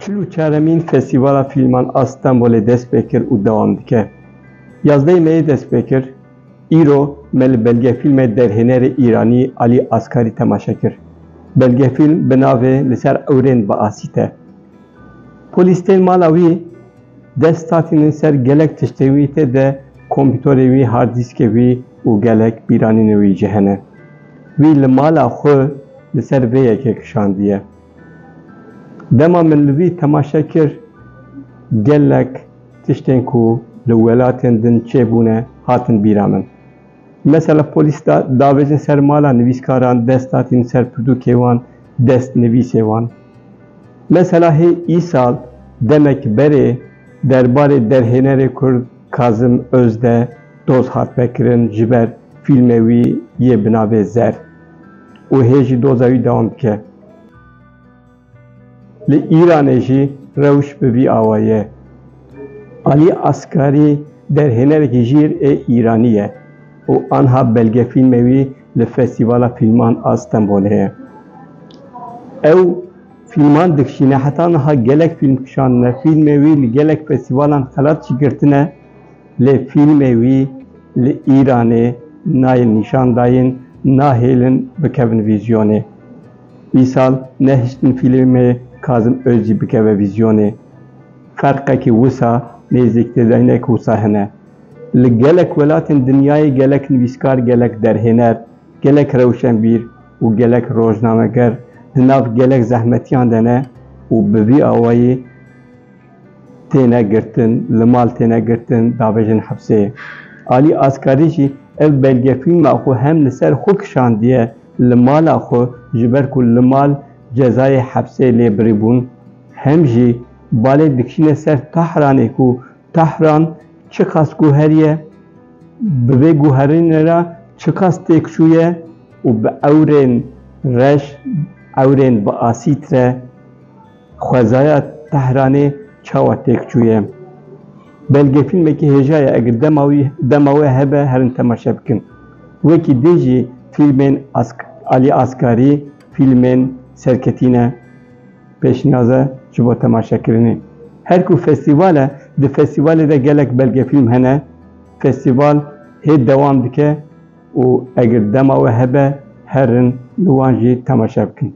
Çil û çaremîn Festîvala Fîlman a Stenbolê dest pê kir û dewam dike. Yazdeyê Meyê dest pê kir, îro me li belgefîlmê derhênerê Îranî Alî Askarî temaşe kir. Belgefîlm bi navê Li ser ewrên bi asîte. Polîs tên mala wî, dest tatînin ser gelek tiştên wî tê de kompîtorê wî, hard dîskê wî û gelek bîranînên wî jî hene. Wî li mala xwe li ser vê yekê kişandiye. Dema min li wî temaşe kir, gelek tiştên ku li welatên din çêbûne hatin bîra min. Mesela polîs da davêjin ser mala nivîskaran, dest hatîn ser pirtûkê wan, dest nivîsê wan. Mesela hê îsal demek berê derbarê derhênerê kurd Kazim Özde doz hat vekirin ji ber fîlmê wî yê bi navê Zer û hê jî doza wî dewam dike. Li Îranê jî rewş bi vî awa ye. Alî Askarî derhênerekî jîr ê Îranî ye û anha belgefîlmê wî li Festîvala Fîlman a Stenbolê ye. Ew fîlman dikişîne, heta niha gelek fîlm kişandine, fîlmê wî li gelek festîvalan xelat jî girtine. Lê fîlmê wî li Îranê nayên nîşandayîn nahêlin bikevin vîzyonê. Îsal nehiştin fîlmê Kazim Ozî bikeve vîzyonê. Ferqekî wisa nêzîktêdayînek wisa hene. Li gelek welatên dinyayê gelek nivîskar, gelek derhêner, gelek rewşenbîr û gelek rojnameger di nav gelek zehmetiyan de ne û bi vî awayî, têne girtin, li mal têne girtin davêjin hepsê. Alî Askarî jî ev belgefîlma xwe hem li ser xwe kişandiye li mala xwe ji ber ku li mal cezayê hepsê lê birîbûn, hem jî balê dikişîne ser Tahranê ku Tahran çiqas guher ye, bi vê guherînê re çiqas têk çûye û bi ewrên reş, ewrên bi asîd re, Xwezaya Tehranê çawa têk çûye? Belge fîlmekî hêja ye eger dema wî dema we hebe herin temaşe bikin. Wekî dê jî fîlmên Ask Alî Askarî fîlmên serketîne pêşniyaz e ji bo temaşekirinê. Her ku festîval e di festîvalê de gelek belgefîlm hene. Festîval hê dewam dike û eger dema we hebe herin li wan jî temaşe bikin.